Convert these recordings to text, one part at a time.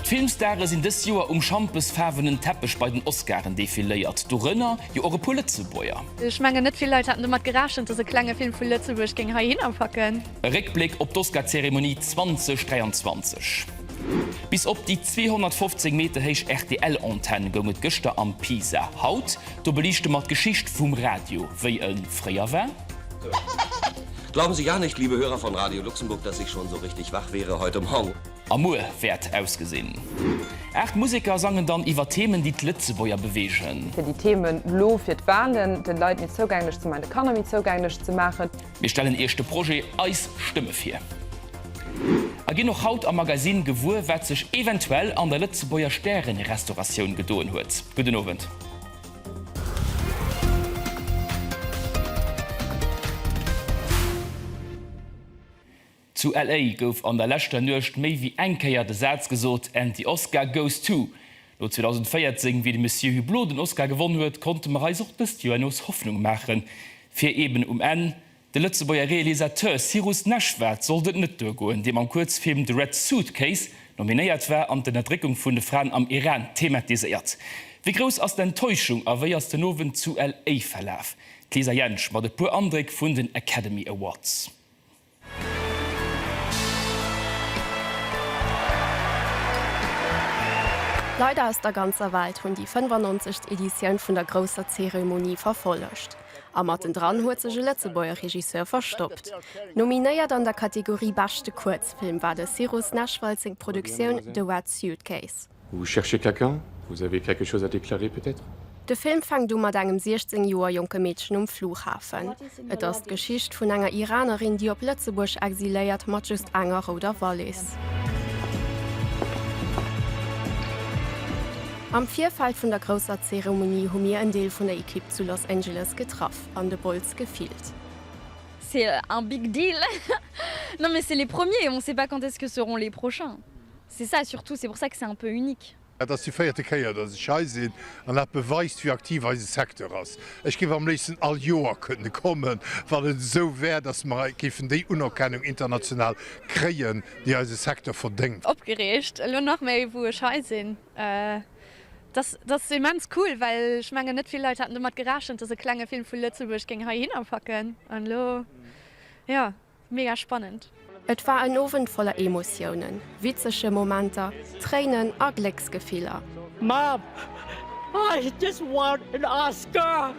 D'Filmstare sinn dës Joer um schampesfaarwenen Teppech bei den Oscaren defiléiert, dorënner jo och e puer Lëtzebuerger. Ech mengen, net vill Leit haten domat gerechent, dass e klenge Film vu Lëtzebuerg géing heihinner packen. E Réckbléck op d'Oscar-Zeremonie 2023. Bis op déi 215 Meter héich RTL-Antenn goung et gëschter am Pisa. Haut do beliichte mer d'Geschicht vum Radio, wéi e fréier war. Glauben Sie gar nicht, liebe Hörer von Radio Luxemburg, dass ich schon so richtig wach wäre heute Morgen. A muer wäert ausgesinn. Aacht Museker sangen dann iwwer Themen, déi d'Lëtzebuerger beweegen. Fir déi Themen elo fir d'Walen den Leit méi zougänglech ze man, de Kanner méi zougänglech ze maachen. Mir stellen Iech de Projet Eis Stëmme vir a ginn och haut am Magazine gewuer, wat sech eventuell an der Lëtzebuerger Stärenrestauratioun gedoen huet. Gudden Owend. Zu LA gouf an der leschter Nuecht méi wéi eng Kéier de Saz gesot, And the Oscar goes to. No 2014, wéi de Monsieur Hublot den Oscar gewonn huet, konnte mer eis och dëst Joer nees Hoffnung maachen, fir eeben um Enn De Lëtzebuerger Realisateur Cyrus Neshvad sollt et net duergoen, deem am Kuerzfilm The Red Suitcase nominéiert war an d'Ënnerdréckung vun de Fraen am Iran thematiséiert. Wéi grouss ass d'Enttäuschung a wéi ass den Owend zu LA verlaf? D'Lisa Jentsch mat e puer Andréck vun den Academy Awards. Leider aus der ganzer Welt hunn déi 95. Editioun vun der grousser Zeremonie verfollegt. A mattendran huet sech e Lëtzebuerger Regisseur verstoppt. Nominéiert an der Kategorie Beschte Kuerzfilm war de Cyrus Nechwald seng Produktioun The Red Suitcase. Vous cherchez quelqu'un? Vous avez quelque chose à déclarer peut-être? De Film fänkt u mat engem 16 Joer jonke Meedchen um Flughafen. Et ass d'Geschicht vun enger Iranerin, déi op Lëtzebuerg exiléiert, mat just enger rouder Wallis. Am Virfeld vun der grousser Zeremonie hu mir en Deel vun der Ekipp zu Los Angeles getraff an de Bols gefillt. C'est un big deal non mais c'est les premiers et on sait pas quand est-ce que seront les prochains, c'est ça surtout, c'est pour ça que c'est un peu unique. Dat ass déi véierte Kéier, datt ech hei sinn an dat beweist, wéi aktiv eise Secteur ass. Ech géif am léifsten all Joer kënne kommen, wann et esou wär, datt mer géifen déi Unerkennung international kréien, déi eise Secteur verdéngt. Opgereegt, elo nach méi, wou ech hei sinn. Dat ass immens cool, well ech mengen, net vill Leit haten domat gerechent, dass e klenge Film vu Lëtzebuerg géing heihinner packen. An elo, jo, mega spannend. Et war en Owend voller Emotiounen, witzege Momenter, Tréinen a Glécksgefiller. Mom, I just want an Oscar!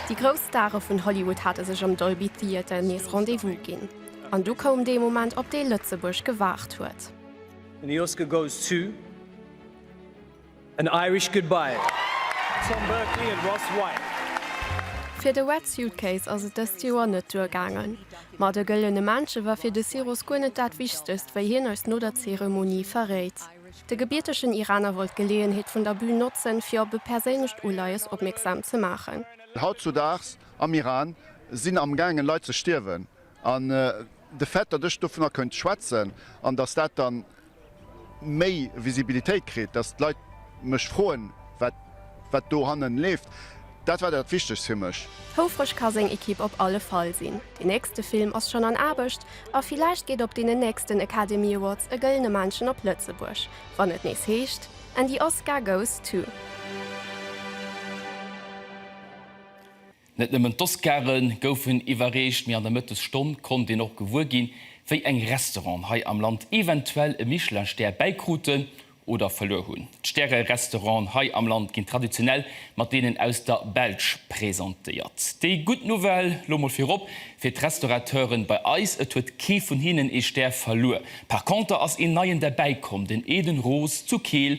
Déi grouss Stare vun Hollywood hate sech am Dolby Theater nees Rendez-vous ginn. An du koum dee Moment, op dee Lëtzebuerg gewaart huet. And the Oscar goes to An Irish Goodbye. Tom Berkley and Ross White. Fir de Wet Suitcase ass et dëst Joer net duergaangen. Ma de Gëllene Männche war fir de Siros guer net dat Wichtegst, wéi hien eis no der Zeremonie verréit. De gebiertegen Iraner wollt d'Geleeënheet vun der Bün notzen, fir op e perséinlecht Uleies opmierksam ze maachen. Hautzudaags am Iran sinn am gaangen Leit ze stierwen an de fait datt ech dovunner kënnt schwätzen an datt dat dann méi Visibilitéit kritt, datt d'Leit mech froen wat wat do hannen leeft, dat war dat wichtegst fir mech. Houfreg ka seng Ekipp op alle Fall sinn. Deen nächste Film ass schonn an Aarbecht a villäicht geet op deenen nächsten Academy Awards e gëllene Männchen op Lëtzebuerg, wann et nees heescht And the Oscar goes to. Net nëmmen d'Oscare goufen iwwerreecht, mee an der Mëttesstonn konnt een och gewuer ginn, wéi eng Restauranten hei am Land eventuell e Michelin-Stär bäikruten oder verluer hunn. D'Stäre-Restauranten hei am Land ginn traditionell mat deenen aus der Belsch presentéiert. Déi gutt Nouvelle, lo mol virop, fir d'Restaurateuren bei eis, et huet kee vun hinnen ee Stär verluer. Par conter ass een neien derbäikomm, den Eden Roos zu Keel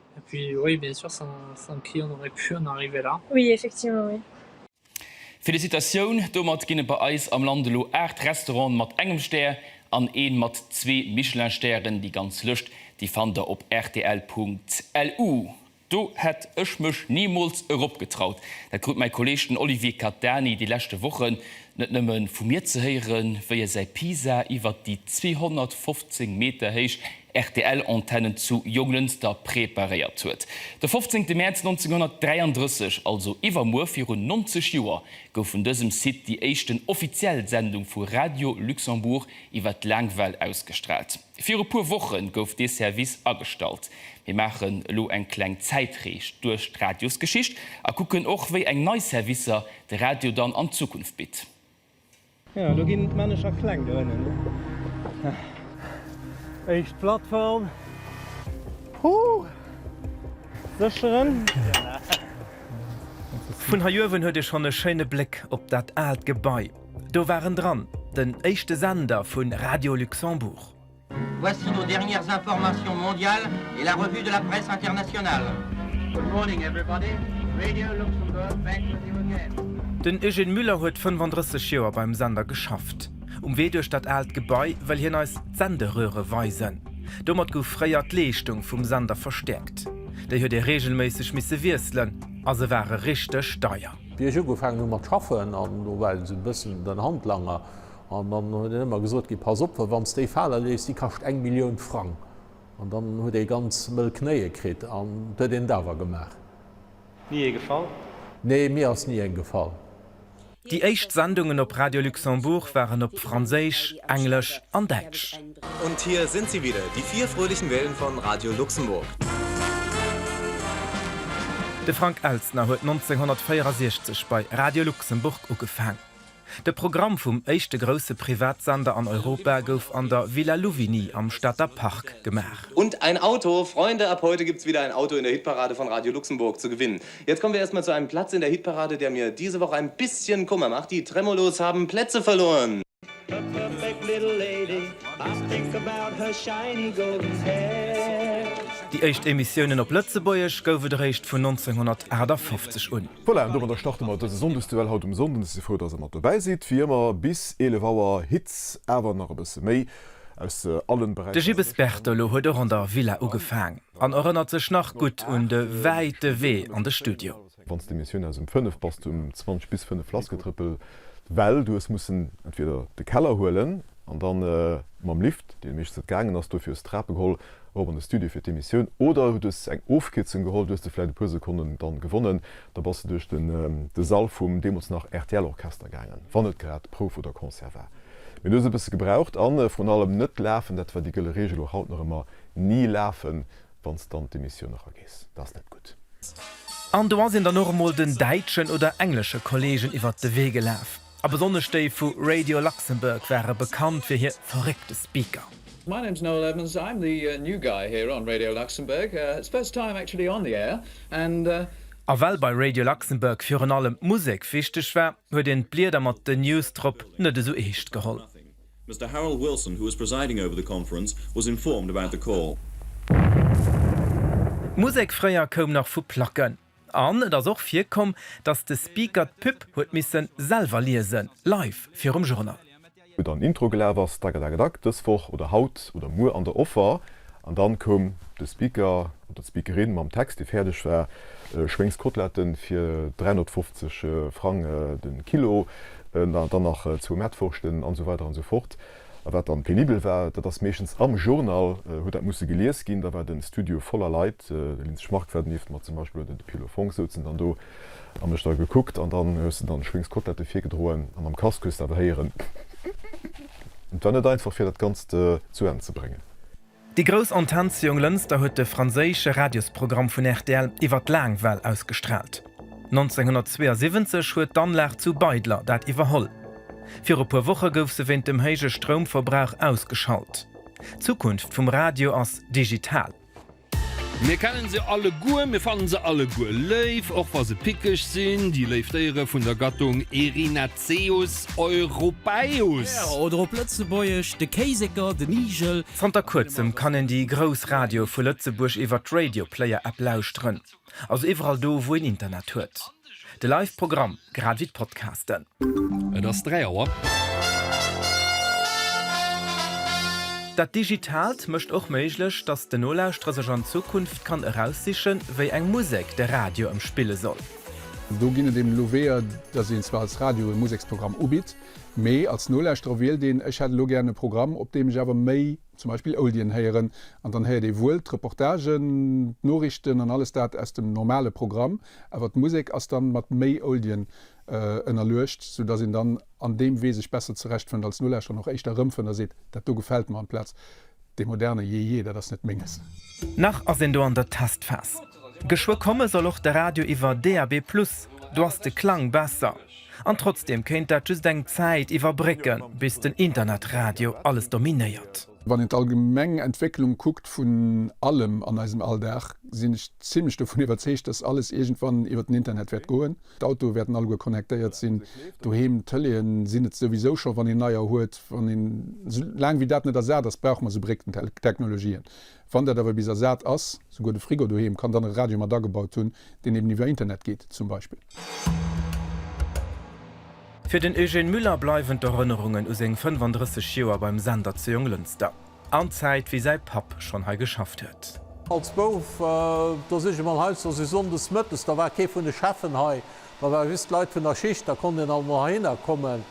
Felicitatioun! Domat ginn et bei eis am Land elo 8 Restauranten mat engem Stär an een mat zwee Michelin-Stären. Déi ganz Lëscht déi fannt der op rtl.lu. Do hätt ech mech nimools erop getraut. Dat krut mäi Kolleeg, den Olivier Catani, déi leschte Wochen Net nëmme vu mir ze héieren, wéi e säi Pisa iwwert déi 215 Meter héich RTL-Antennen zu Jonglënster preparéiert huet. De 15. Mäerz 1933, also iwwermuer virun 90 Joer, gouf vun dësem Site déi éischten offiziell Sendung vu Radio Luxembourg iwwer d'Laangwell ausgestraalt. Viru puer Wochen gouf dee Service agestallt. Mir maachen elo eng kleng Zäitrees duerch d'Radiosgeschicht a kucken och wéi eng nei Servicer de Radio dann an Zukunft bitt. Jo lo ginn d'Männecher kleng do ënnen. Éischt Plattform. Huuh! Sécheren. Vun hei uewen huet ee schonn e schéine Bléck op dat aalt Gebai. Do waren dran den éischte Sender vu Radio Luxembourg. Voici nos dernières informations mondiales et la revue de la presse internationale. Good morning everybody, Radio Luxembourg back with you again. Den Eugène Müller huet 35 Joer beim Sender geschafft. Um Wee duerch dat aalt Gebai wëll hien eis d'Senderöre weisen. Domat gouf fréier d'Leeschtung vum Sender verstäerkt. Déi huet ee reegelméisseg misse wiesselen a se ware richteg deier. Wéi ech ugefaangen hu mat schaffen, an do war esou e bëssen den Handlanger, an dann huet en ëmmer gesot, Gui, pass op, well wann s déi fale léisst, déi kascht eng Millioun Frang. An dann huet ee ganz mëll Knéie kritt, an et huet een et awer gemaach. Ni ee gefall? Nee, mir ass ni eng gefall. Déi éischt Sendungen op Radio Luxembourg waren op Franséisch, Englesch an Däitsch. Und hier sind sie wieder, die vier fröhlichen Wellen von Radio Luxemburg. De Frank Elstner huet 1964 bei Radio Luxemburg ugefaang. De Programm vum éischte grousse Privatsender an Europa gouf an der Villa Louvigny am Stater Park gemaach. Und ein Auto, Freunde, ab heute gibt es wieder ein Auto in der Hitparade von Radio Luxemburg zu gewinnen. Jetzt kommen wir erst mal zu einem Platz in der Hitparade, der mir diese Woche ein bisschen Kummer macht, Die Tremolos haben Plätze verloren! Déi éischt Emissiounen op Lëtzebuergesch gouf et eréischt vun 1958 un. Voilà, an domadder starte mer dëse Sonndesduell haut um Sonnden. Ech si frou, dass Der mat dobäi sidd. Wéi ëmmer bis 11 Auer Hits, awer nach e bësse méi aus allen De Beräicher. Gibbes Bertolo huet och an der Villa ugefaang an erënnert sech nach gutt un de wäite Wee an de Studio. Wann s de Missioun aus ëm 5 bass du ëm 20 bis 5 lass getrëppel well du hues mussen entweder de Keller huelen an da mam Lift, dee meeschtens net gaangen ass, dofir hues de Trape geholl erop an de Studio fir d'Emissioun oder du hues eng Ofkierzung geholl, du hues de vläit e puer Sekonnen dann gewonnen, da bass de duerch de Sall vum deemools nach rtl Orchester gaangen, wann net grad Prouf oder Concert war. Mee du hues e bësse gebraucht an vrun allem net lafen, dat war déi gëlle Reegel, och haut nach ëmmer ni lafen, Wann s de an d'Emissioun eragees, dat ass net gutt. An do ass een dann och emol den däitschen oder englesche Kolleegen iwwert de Wee gelaf. A besonnesch déi vu Radio Luxembourg ware bekannt fir hir verréckte Speaker. My name's Noel Evans, I'm the new guy here on Radio Luxembourg, it's first time actually on the air and. A well bei Radio Luxembourg virun allem d'Musek wichteg war, huet een d'Blieder mat den News drop net esou eescht geholl. Mister Harold Wilson, who was presiding over the conference, was informed about the call. D'Musek fréier koum nach vu Placken an et ass och virkomm, datt de Speaker d'Pub huet misse selwer liesen, live virum Journal. Oder en Intro gelaf ass, dagedagedagg, dës Woch oder haut oder muer an der Offer. An dann koum de Speaker oder d'Speakerin mam Text, dee fäerdeg war, Schwéngskoteletten fir 350 Frang den Kilo, dann nach zwou Mettwurschten an esou weider an esou fort. A wat dann penibel war, dat ass meeschtens am Journal huet dat musse gelies ginn, da war den Studio voller Leit, de Linz Schmark war donieft, ma zum Beispill huet en de Piolo Fonck souzen dann do. An ech da gekuckt an dann hues de dann Schwéngs Kotelette virgedroen an am Casque hues de awer héieren et war net einfach fir dat ganzt zu Enn ze bréngen. Déi grouss Antenn zu Jonglënster huet de franséische Radiosprogramm vun rtl iwwer d'Laangwell ausgestraalt. 1972 huet d'Anlag zu Beidler dat iwwerholl. Viru puer Woche gouf se wéint dem héije Stroumverbrauch ausgeschalt. D'Zukunft vum Radio ass digital. Mir kennen se alleguer, mir fannen se alleguer léif, och wa se pickeg sinn, déi léif Déiere vun der Gattung Erinaceus europaeus. Oder op Lëtzebuergesch, de Kéisécker, den Igel. Zanter kuerzem kann een déi grouss Radioe vu Lëtzebuerg iwwert d'Radio Player App lauschteren. Also iwwerall do, wou een Internet huet. De Live Programm, grad ewéi d'Podcasten. Et ass 3 Auer. Dat Digitaalt mécht och méiglech, datt den Nolauschterer sech an Zukunft kann eraussichen, wéi eng Musek de Radio ëm spille soll. Do ginn et eben elo Weeër, datt een zwar als Radio e Museksprogramm ubitt, mee als Nolauschterer wielt een, ech hätt elo gären e Programm, op deem ech awer méi. zum Beispill Oldien héieren an dann héiert ee wuel d'Reportagen, d'Noriichten an alles dat aus dem normale Programm, awer d'Musek ass dann mat méi Oldien ënnerluecht, sou dass een dann an deem Wee sech besser zerecht fënnt, als Nolauschterer och éischter erëmfënnt a seet, dat do gefält mer, amplaz dee moderne Jee, jee, dat ass net Menges. Nach ass een do an der Testphas. Geschwë komme soll och de Radio iwwer DAB+, do ass de Klang besser. An trotzdeem kéint dat just eng Zäit iwwerbrécken, bis den Internetradio alles dominéiert. Wann een d'allgemeng Entwécklung kuckt vun allem an eisem Alldag, sinn ech zimmlech dovun iwwerzeegt, dass alles iergendwann iwwer den Internet wäert goen. D'Autoe wäerten alleguer connectéiert sinn, doheem d'Tëleeë sinn et souwisou scho, wann een neier huet. Wann een, esou laang wéi dat net ersat ass, brauche mer esou Brécktechnologien. Wann dat awer bis ersat ass, souguer de Frigo doheem kann dann e Radio mat agebaut hunn, deen eben iwwer Internet geet zum Beispill. Fir den Eugène Müller bleiwen d'Erënnerungen u seng 35 Joer beim Sender zu Jonglënster an d'Zäit, wéi säi Papp schonn hei geschafft huet. Als Bouf, do sinn ech emol heiansdo sou sonndes mëttes, da war kee vun de Cheffen hei, da ware just d'Leit vun der Schicht, da konnt een alt emol heihinner kommen.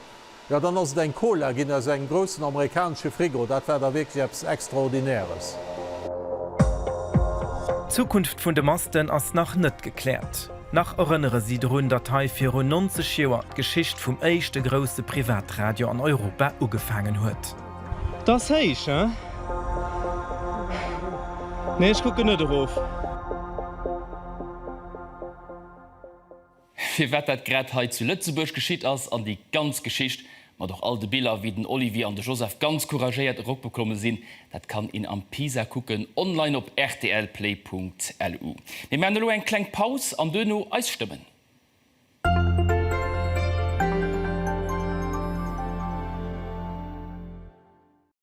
Jo, dann ass et eng Cola ginn aus engem groussen amerikanesche Frigo. Dat war da wierklech eppes Extraordinäres. D'Zukunft vun de Masten ass nach net gekläert. Nach erënnere si drun, datt hei virun 90 Joer d'Geschicht vum éischte grousse Privatradio an Europa ugefaangen huet. Et ass héich, hein? Nee, ech kucken net erof. firwat dat grad hei zu Lëtzebuerg geschitt ass an déi ganz Geschicht, mat och all de Biller, wéi den Olivier an de Joseph ganz couragéiert eropgeklomme sinn, dat kann een am Pisa kucken, online op rtlplay.lu. Mir maachen elo eng kleng Paus an duerno eis Stëmmen.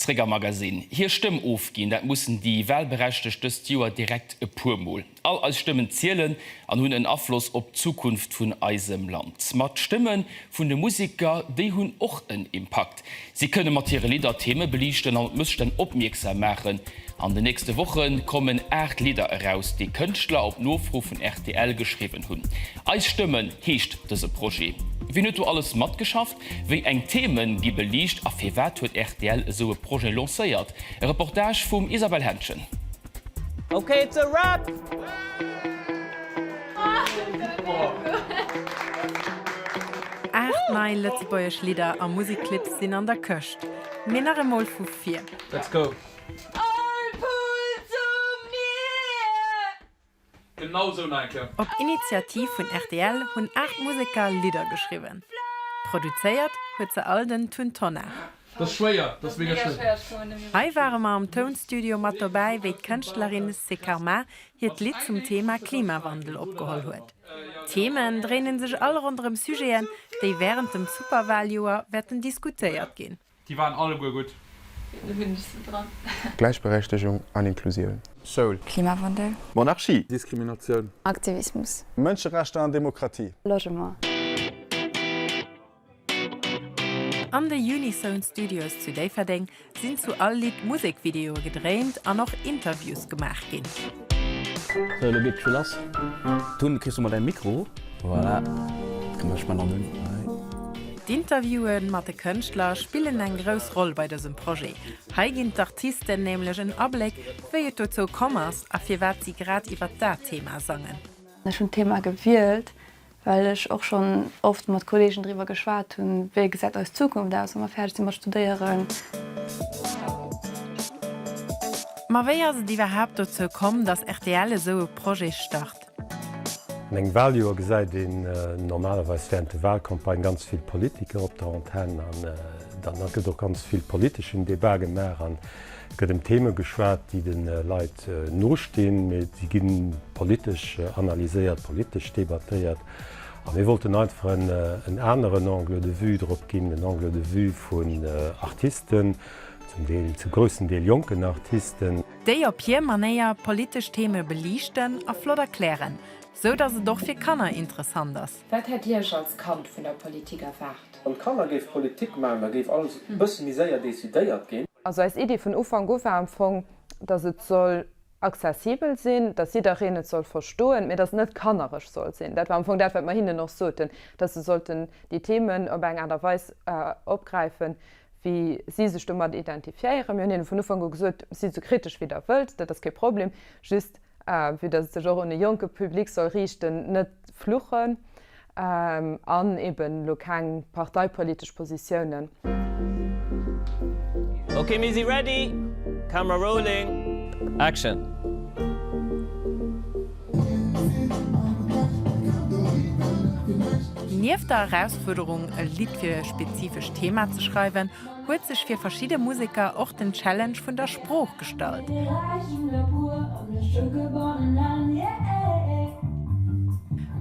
Zréck am Magasinn. Hir Stëmm ofginn, dat mussen déi Wahlberechtegt dëst Joer direkt e puer Mol. All eis Stëmmen zielen an hunn en Afloss op d'Zukunft vun eisem Land. Ma d'Stëmme vun de Museker, déi hunn och en Impakt. Si kënne mat hire Lidder Theeme beliichten an op Mësstänn opmierksam maachen. An den nächste Woche kommen 8 Lidder eraus, déi Kënschtler op Nofro vun rtl geschriwwen hunn. Eis Stëmmen heescht dëse Projet. Wien huet do alles matgeschafft? Wéi eng Themen gi beliicht a firwat huet rtl esou e Projet lancéiert? E Reportage vum Isabelle Henschen. Ok it's a wrap! Aacht nei lëtzebuergesch Lidder a Musikclips sinn an der Këscht. Mee nach emol vu vir. Let's go! All pull to mir! Op Initiativ vun rtl hunn 8 Museker Lidder geschriwwen. Produzéiert huet se all den Tun Tonnar. Hei ware mer am Tounstudio mat dobäi, wéi d'Kënschtlerin Sekarma hiert Lidd zum Thema Klimawandel opgeholl huet. D'Themen dréinen sech all ronderëm Sujeten, déi wärend dem Superwaljoer wäerten diskutéiert ginn. Déi waren alleguer gutt. Do hunn ech se dran. Gläichberechtegung an Inklusioun. Schoul. Klimawandel. Monarchie. Diskriminatioun. Aktivismus. Mënscherechter an Demokratie. Logement. An de Unison Studios zu Déifferdeng sinn zu all Lidd Musekvideoe gedréint an och Interviews gemaach ginn. Sou, elo geet d'Spill lass. Dunn kriss du mol däi Mikro. Voilà. Dann mech mer nach un hei. D'Interviewe mat de Kënschtler spillen eng grouss Roll bei dësem Projet. Hei ginn d'Artisten nämlech en Abléck, wéi et dozou komm ass a firwat si grad iwwert dat Thema sangen. Ech hunn d'Thema gewielt, well ech och schonn oft mat Kolleegen driwwer geschwat hunn, wéi gesäit eis Zukunft aus, wa mer fäerdeg si mat studéieren. Ma wéi ass et iwwerhaapt dozou komm, datt rtl esou e Projet start? An engem Waljoer gesäit een normalerweis wärend de Walcampagnë ganz vill Politiker op der Antenn an dann gëtt och ganz vill politeschen Debat gemaach. An Et gëtt ëm Theme geschwat, déi de Leit nostinn, mee si gi politesch analyséiert, politesch debattéiert. A mir wollten einfach en aneren Angle de vue drop ginn, en Angle de vue vun Artisten, zum Deel, zum groussen Deel jonken Artisten. Déi op hir Manéier politesch Theme beliichten a flott erklären, sou datt et och fir Kanner interessant ass. Wat hätt Dir Iech als Kand vun der Politik erwaart? Wann d'Kanner géife Politik maachen, da géif alles e bësse méi séier decidéiert ginn. Also eis Iddi vun Ufank u war am Fong, dass et soll accessibel sinn, dass jiddereen et soll verstoen, mä dass et net kanneresch soll sinn. Dat war am Fong dat, wat mer hinnen och soten, dass se sollten déi Themen op eng Aart a Weis opgräifen, wéi si sech domat identifiéieren. Mir hunn hinnen vun Ufank u gesot, Si sou kritesch wéi Der wëllt, dat ass kee Problem, just A vue dass et sech och un e jonke Public soll riichten, net fluchen an eben elo keng parteipolitesch Positiounen. Ok mir si ready, camera rolling, action. Nieft der Erausfuerderung e Lidd fir e spezifescht Thema ze schreiwen, huet sech fir verschidde Museker och den Challenge vun der Sprooch gestallt.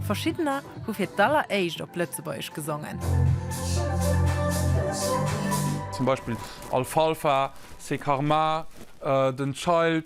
Verschiddener hu fir d'alleréischt op Lëtzebuergesch gesongen. Zum Beispill Alfalfa, Sekarma, den Child.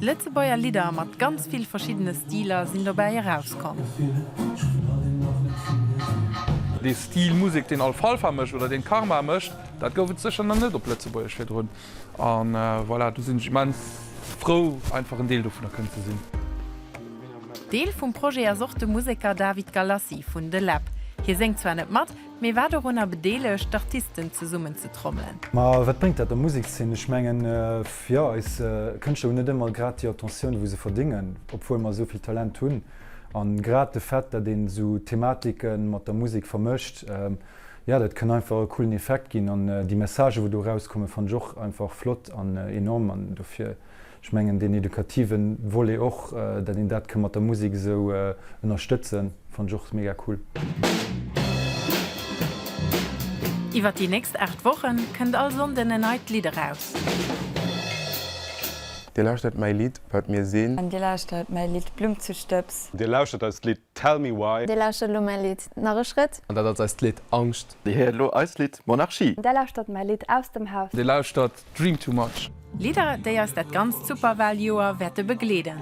Lëtzebuerger Lidder mat ganz vill verschiddene Stiler sinn dobäi erauskomm. Dee Stil Musek, deen Alfalfa mécht oder deen Karma mécht, dat gouf et sécher nach net op Lëtzebuergesch virdrun. A voilà, do sinn ech immens frou, einfach en Deel dovunner kënnen ze sinn. Deel vum Projet ass och de Museker David Galassi vun The Lab. Hie séngt zwar net mat. Mee war dorunner bedeelegt, d'Artisten zesummen ze trommelen. Ma wat bréngt dat der Musekszeen? Ech mengen, jo, eis Kënschtler hunn net ëmmer grad déi Attentioun, wou se verdéngen, obwuel mer esou vill Talent hunn. A grad de Fait, datt een esou Thematike mat der Musek vermëscht, jo, dat kënn einfach e coolen Effekt ginn. An déi Messagen, wou do erauskommen, fannen ech och einfach flott an enorm. An dofir. Ech mengen deen edukativen Volet och, dat een dat kënn mat der Musik esou ënnerstëtzen, fannt ech och mega cool. Iwwert déi nächst 8 Wochen kënnt all Sonnden en neit Lidd eraus. Dir lauschtert mäi Lidd Wat mir sinn. Dir lauschtert mäi Lidd Blumm zu Stëbs. Dir lauschtert eist Lidd Tell me why. Dir lauschtert elo mäi Lidd Nach e Schrëtt. An dat ass eist Lidd Angscht. Dir héiert elo eist Lidd Monarchie. Dir lauschtert mäi Lidd Aus dem Haus. Dir lauschtert Dream too much. Lidder déi eis dat ganzt Superwahljoer wäerte begleeden.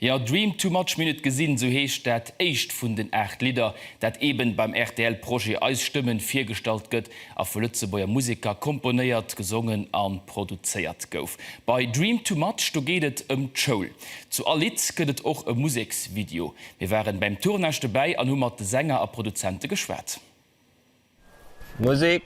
Jo, Dream too much, Mir hunn et gesinn, sou heescht dat éischt vun den 8 Lidder, dat eben beim rtl Projet Eis Stëmmen virgestallt gëtt a vu Lëtzebuerger Museker komponéiert, gesongen a produzéiert gouf. Bei Dream too much, do geet et ëm d'Schoul. Zu all Lidd gëtt et och e Museksvideo. Mir waren beim Tournage dobäi an hu mat de Sänger a Produzenten geschwat. Musik.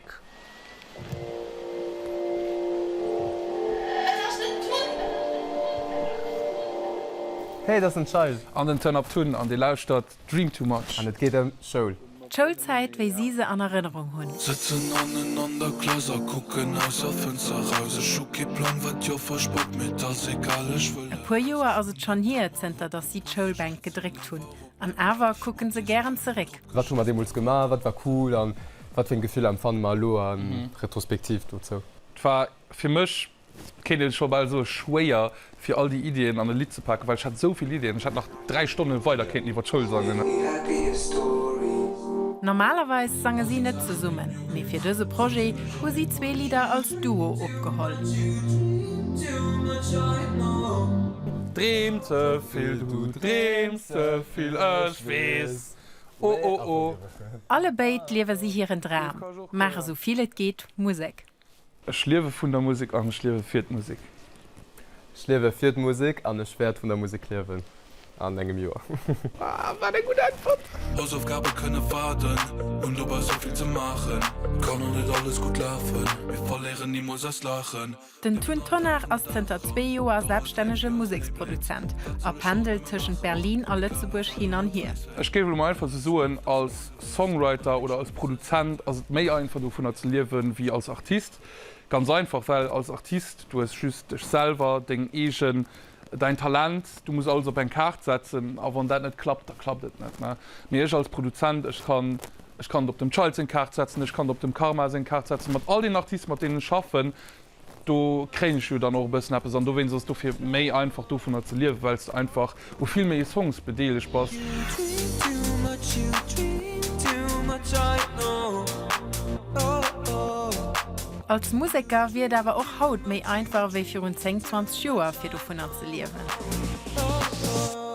Hey, dat ass den Child. An den Turn Up Tun an dir lauschtert Dream Too Much. An et geet ëm Soul. D'Schoulzäit wéi si se an Erënnerung hunn. Sëtzen hannen an der Klass a kucken aus a Fënster eraus. Ech hu kee Plang, wat d'Joffer spott, mee 't ass egal, ech wëll. E puer Joer ass et schonn hier, zënter datt si d'Schoulbänk gedréckt hunn, an awer kucke se gären zeréck. Wat hu mer deemools gemaach, wat war cool a wat fir eng Gefiller empfanne mer elo a Retrospektiv dozou? 't war fir mech Kéint een scho bal soen, schwéier fir all déi Iddien an e Lidd ze paken, well ech hat esou vill Iddien, ech hätt nach 3 Stonne weider kéinten iwwer d'Schoul sangen. Normalerweis sange si net zesummen, mee fir dëse Projet hu si zwee Lidder als Duo opgeholl. Dreem ze vill, du dreems ze vill, ech weess, oh oh oh. Allebéid liewe si hiren Dram, maache sou vill et geet Musek. Ech liewe vun der Musek an ech liewe fir d'Musek. Ech liewe fir d'Musek an ech wäert vun der Musek liewen an engem Joer. Wahh, wat eng gutt Äntwert! Hausaufgabe kënne waarden, hunn dobei sou vill ze maachen. Kann och net alles gutt lafen, mee verléieren nimools eist Laachen. Den Tun Tonnar ass zënter zwee Joer selbststännege Museksproduzent a pendelt tëschent Berlin a Lëtzebuerg hin an hier. Ech géif elo mol einfach esou soen, als. Songwriter oder als Produzent ass et méi einfach dovunner ze liewen ewéi als Artist. Ganz einfach, well als Artist, du hues just dech selwer, deng eegen, däin Talent, du muss alles op eng Kaart setzen a wann dat net klappt, da klappt et net. Mee ech als Produzent, ech kann, ech kann et op dem Child seng Kaart setzen, ech kann et op dem Karma seng Kaart setzen, mat all den Artisten mat deenen ech schaffen, Do kréien ech jo dann och e bëssen eppes an dowéinst ass et dofir méi einfach dovunner ze liewen, well s de einfach u vill méi Songs bedeelegt bass. Als Museker wier et awer och haut méi einfach ewéi virun 10, 20 Joer fir dovunner ze liewen.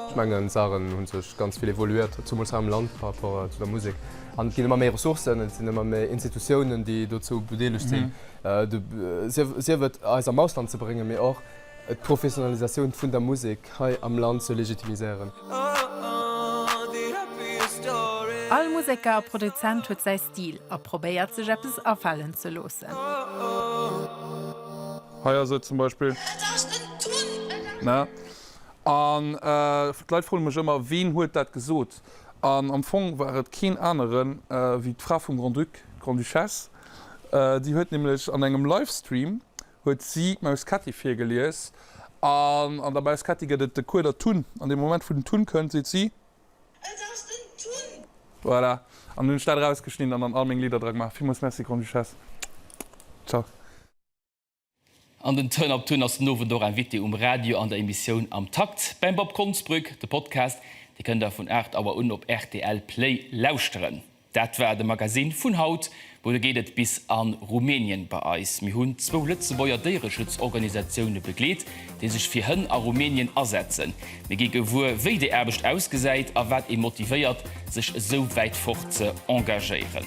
Ech mengen d'Saachen hu sech ganz vill evoluiert, zumools hei am Land par rapport zu der Musek an et ginn ëmmer méi Ressourcen, et sinn ëmmer méi Institutiounen déi dozou bedeelegt sinn, sief et eis am Ausland ze bréngen, mee och d'Professionalisatioun vun der Musek hei am Land ze legitimiséieren. All Museker a Produzent huet säi Stil a probéiert sech eppes afalen ze loossen. Déi huet nämlech an engem Livestream huet si d'Maus Ketti virgelies an an der Maus Ketti gëtt et de Kueder Tun. An deem Moment wou den Tun kënnt seet si. Et ass den Tun! Voilà. An hunn ech dat erausgeschnidden an an all meng Lidder dra gemaach. Villmools Merci Grande-Duchesse. Ciao. An den Turn Up Tun ass den Owend och Invité um Radio an der Emissioun Am Takt beim Bob Konsbrück. De Podcast, dee kënnt der vun 8 Auer un op rtl Play lauschteren. Dat war de Magazine vun haut. Muer geet et bis a Rumänien bei eis. Mir hunn zwou Lëtzebuerger Déiereschutzorganisatioune begleet, déi sech fir Hënn a Rumänien asetzen. Mir gi gewuer, wéi déi Aarbecht ausgesäit a wat ee motivéiert, sech esou wäit fort ze engagéieren.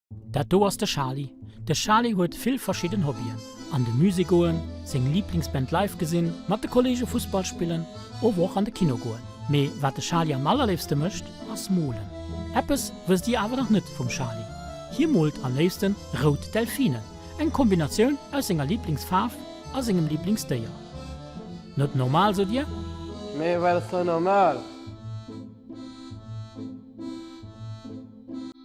Dat do ass de Charly. De Charly huet vill verschidden Hobbyen, an de Musée goen, seng Liiblingsband live gesinn, mat de Kollege Fussball spillen, ower och an de Kino goen. Mee wat de Charly am allerléifste mécht, ass molen. Eppes wësst Dir awer nach net vum Charly, hie moolt am léifsten rout Delfinen, eng Kombinatioun aus senger Liiblingsfaarf a sengem Liiblingsdéier. Net normal, sot Dir? Mee wat ass da normal?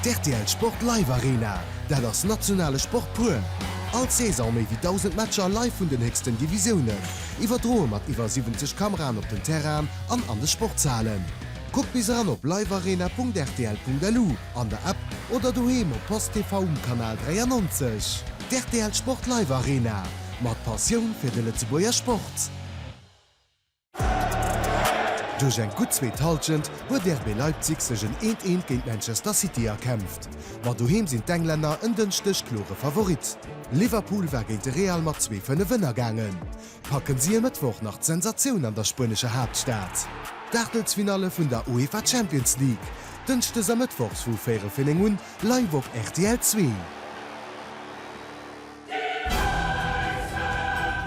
D'RTL Sport Live Arena, dat ass nationale Sport pur! All Saison méi wéi 1.000 Matcher live vun den héchsten Divisiounen, iwwerdroe mat iwwer 70 Kameraen op den Terrainen an an de Sportshalen. Kuck bis eran op livearena.rtl.lu, an der App oder doheem op post TV um Kanal 93. D'RTL Sport Live Arena, mat Passioun fir de Lëtzebuerger Sport! Duerch eng gutt zweet Hallschent huet RB Leipzig sech en 'Eent, Eent' géint Manchester City erkämpft, ma doheem sinn d'Englänner en Dënschdeg klore Favorit. Liverpool war géint de Real mat zwee Fënnef ënnergaangen. Packen si e Mëttwoch nach d'Sensatioun an der spuenescher Haaptstad? D'Aachtelsfinalle vun der UEFA Champions League, dënschdes a mëttwochs vu véierel fir néng un, live op rtl Zwee.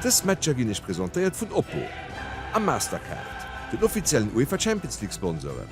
Dës Matcher ginn iech presentéiert vun Oppo a Mastercard, den offiziellen UEFA Champions League Sponsoren.